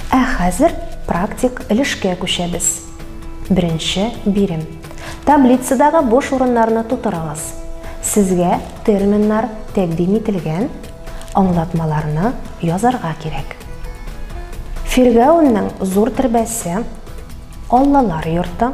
Ә хәзер практик өлешкә күчәбез. Беренче бирем. Таблицадагы буш урыннарны тутырыгыз. Сезгә терминнар тәкъдим ителгән, аңлатмаларны язарга кирәк. Фиргәүннең зур төрбәсе, Аллалар йорты,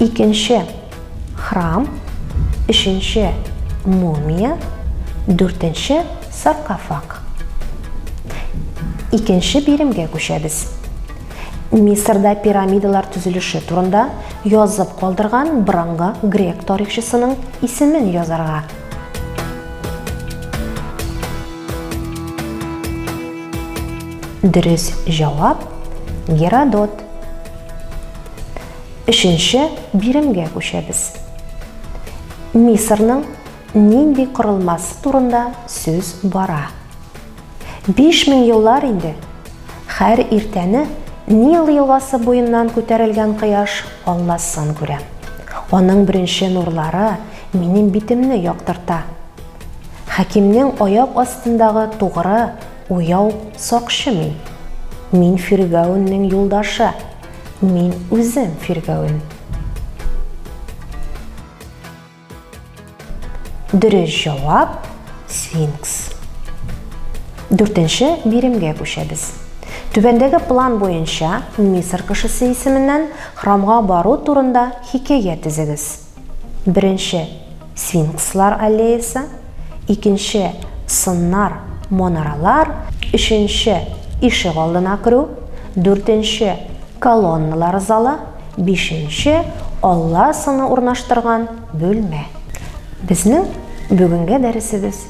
Икенче, храм, өченче, мумия, дүртенче, саркофаг. Икенче биремгә күчәбез. Мисырда пирамидалар төзелеше турында язып калдырган борынгы грек тарихчысының исемен язарга. Дөрес җавап Геродот. Өченче биремгә күчәбез. Мисырның нинди корылмасы турында сүз бара? 5000 еллар инде һәр иртәне Нил елгасы буеннан күтәрелгән кояш алласын күрә. Аның беренче нурлары минем битемне яктырта. Хәкимнең аяк астындагы тугры, уяу сакчы мин. Мин Фиргәүннең юлдашы. Мин үзем фиргәвен. Дөрес җавап сфинкс. Дүртенче биремгә күчәбез. Түбәндәге план буенча Мисыр кешесе исеменнән храмга бару турында хикәя төзегез. Беренче, сфинкслар аллеясы, икенче, сыннар, манаралар, өченче, ишек алдына керү, дүртенче, колонналар залы, бишенче, алла сыны урнаштырган бүлмә. Безнең бүгенге дәресебез